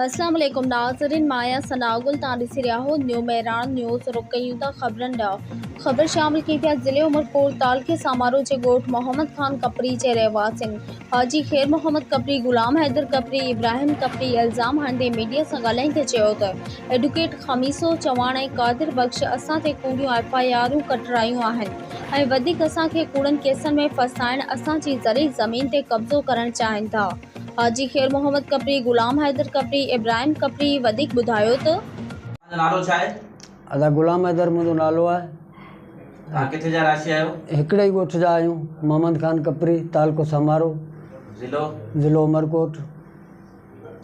اسلام عليڪم ناظرين مان آهيان ثناء گل توهان ڏسي رهيا آهيو نيو مهراڻ نيوز رخ ڪيون ٿا خبرن ڏانهن خبر شامل ڪئي پيا ضلعي عمرڪوٽ تعلقي سامارو جي ڳوٺ محمد خان ڪپري جي رهواسين حاجي خير محمد ڪپري غلام حيدر ڪپري ابراهيم ڪپري الزام هڻندي ميڊيا سان ڳالهائيندي چيو ته ايڊوڪيٽ خميسو چواڻ ۽ قادر بخش اسان تي ڪوڙيون ايف آء آرون ڪٽرايون آهن ۽ وڌيڪ اسان کي ڪوڙن ڪيسن ۾ ڦاسائڻ اسان جي زرعي زمين تي قبضو ڪرڻ چاهين ٿا حاجي خير محمد کپري، غلام حيدر کپري، ابراهيم کپري وڌيڪ ٻڌايو ته. توهان جو نالو ڇا آهي؟ ادا غلام حيدر منهنجو نالو آهي. توهان ڪٿي جا رهاشي آهيو؟ هڪڙي ئي ڳوٺ جا آهيون، محمد خان کپري، تعلقو سمارو، ضلعو؟ ضلعو عمرڪوٽ.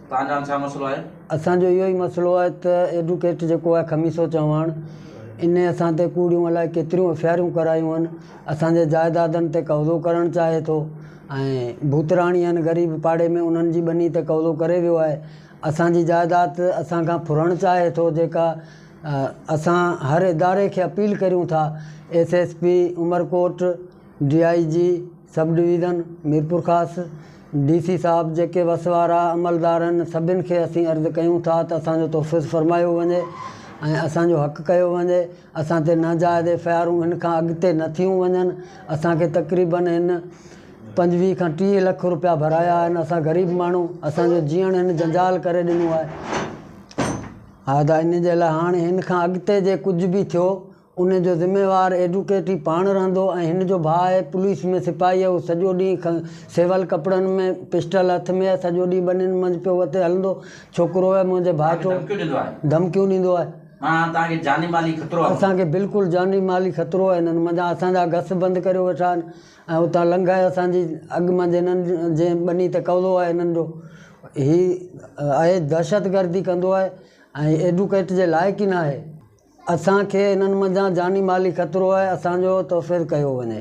توهان جو هاڻ ڇا مسئلو آهي؟ اسان جو اهو ئي مسئلو آهي ته ايڊوڪيٽ جيڪو آهي خميسو چوهاڻ انهي اسان تي ڪوڙيون الائي ڪيتريون ايف آء آرون ڪرايون آهن، اسان جي جائدادن تي قبضو ڪرڻ چاهي ٿو، ۽ ڀوتراڻي ھن غريب پاڙي ۾ انھن جي ٻني تي قبضو ڪري ويو آھي اسان جي جائداد اسان کان ڦرڻ چاھي ٿو جيڪا اسان ھر اداري کي اپيل ڪريون ٿا S S P Umerkot D I G sub division Mirpurkhas D C صاحب جيڪي وس وارا عملدار ھن سڀن کي اسين عرض ڪيون ٿا ته اسان جو تحفظ فرمايو وڃي ۽ اسان جو حق ڪيو وڃي اسان تي ناجائز ايف آء آرون هن کان اڳتي نه ٿيون وڃن، اسان کي تقريبن هن پنجويهه کان ٽيهه لک روپيا ڀرايا آهن، اسان غريب ماڻهو، اسان جو جيئڻ هن جنجال ڪري ڏنو آهي، ها ته ان جي لاء هاڻي هن کان اڳتي جي ڪجهه به ٿيو ان جو ذميوار ايڊوڪيٽ ئي پاڻ رهندو ۽ هن جو ڀاء آهي پوليس ۾ سپاهي اهو سڄو ڏينهن سول ڪپڙن ۾ پسٽل هٿ ۾ سڄو ڏينهن ٻنين منجهه پيو وتي هلندو ڇوڪرو آهي منهنجي ڀائٽو ڌمڪيون ڏيندو آهي. مان توهان کي جاني مالي خطرو آهيان. اسان کي بلڪل جاني مالي خطرو آهي هنن منجهان اسان جا گس بند ڪريو ويٺا آهن ۽ اتان لنگهائي اسان جي اڳ منجهه هنن جي ٻني تي قبضو آهي هنن جو هي اهي دهشت گردي ڪندو آهي ۽ ايڊوڪيٽ جي لائق ئي ناهي اسان کي هنن منجهان جاني مالي خطرو آهي اسان جو توفير ڪيو وڃي.